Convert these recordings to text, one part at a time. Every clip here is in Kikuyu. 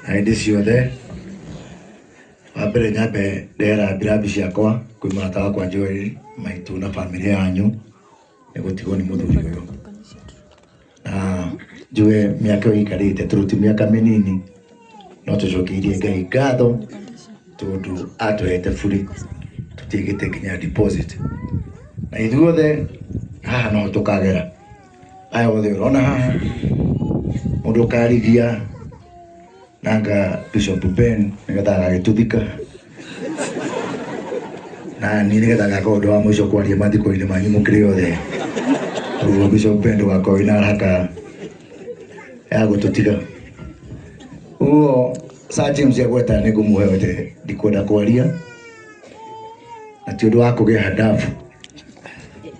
hĩndĩ ciothe wa mbere nyambe ndera mbirathi ciakwa kwĩ mũrata wakwa Joel maitũ na bamĩrĩ yanyu nĩ gũtigwo nĩ mũthuri ũyũ na njuge mĩaka ĩyo ĩikarĩte tondũ ti mĩaka mĩnini no tũcokeirie Ngai ngatho tondũ atũhete burĩ tũtiĩkĩte nginya deposit na ithuothe haha no tũkagera aya othe urona haha mundu ukarithia nanga bishop ben nigetha agagituthika na ni nigetha ngaka undu wa mwico kwaria mathiko-ini manyu mukiri othe koguo bishop ben ndugakorwo wina haraka ya gututiga uguo sir james agweta ni ngumuhe wete ndikwenda kwaria na ti undu wa kugeha ndabu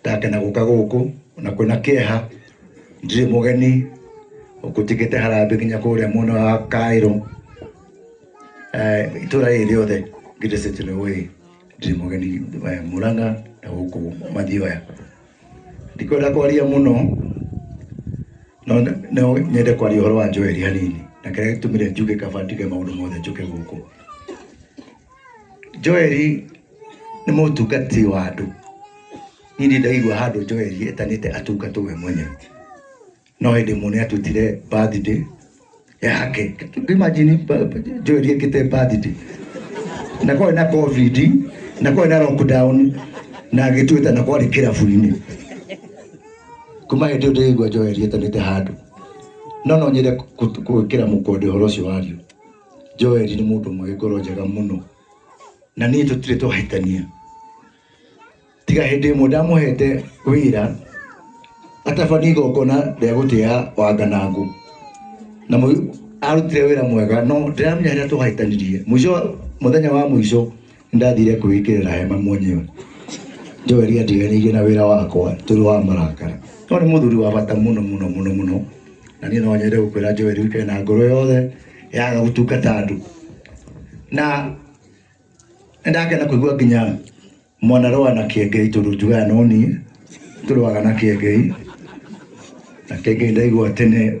Ndakena gũka gũkũ na kwĩna kĩeha, ndirĩ mũgeni ngũtikĩte harambĩ nginya kũrĩa mwena wa Kairũ itũra rĩrĩ rĩothe ngirĩcĩte nĩ ũĩ ndirĩ mũgeni Mũrang'a na gũkũ Mathioya. Ndikwenda kwaria mũno no nyende kwaria ũhoro wa Joel hanini na kĩrĩa gĩtũmire njuge kaba njuge maũndũ mothe njũke gũkũ. Joeli nĩ mũtungati wa andũ. Niĩ ndirĩ ndaigua handũ Joeli etanĩte atungatwo we mwenyewe. No hĩndĩ ĩmwe nĩ atutire birthday yake. Imagine ba- ba- Joeli ekĩte birthday. Na kwarĩ na COVID, na kwarĩ na lockdown, na agĩtuĩta na kwarĩ kĩrabu-inĩ. Kuma hĩndĩ ĩyo ndĩraigua Joeli etanĩte handũ. No no nyende kũ- kũ- gwĩkĩra mũkonde ũhoro ũcio wario. Joeli nĩ mũndũ ũmwe wĩ ngoro njega mũno na niĩ tũtirĩ twahĩtania tiga hĩndĩ ĩmwe ndamũhete wĩra atabanie igongona rĩa gũtĩa wanganangũ na mũi- arutire wĩra mwega no ndiramenya harĩa twahĩtanirie mũico mũthenya wa mũico Nĩndathire kwĩĩkĩrĩra hema mwenyewe. Joeli andiganĩirie na wĩra wakwa tũrĩ wa marakara. No nĩ mũthuri wa bata mũno mũno mũno mũno, na niĩ no nyende gũkwĩra Joeli ũikare na ngoro yothe yaga gũtungata andũ. Na nĩndakena kũigua nginya mwanarũa na Kĩengei tondũ njugaga no niĩ, tũrũaga na Kĩengei. Na Kĩengei ndaigua tene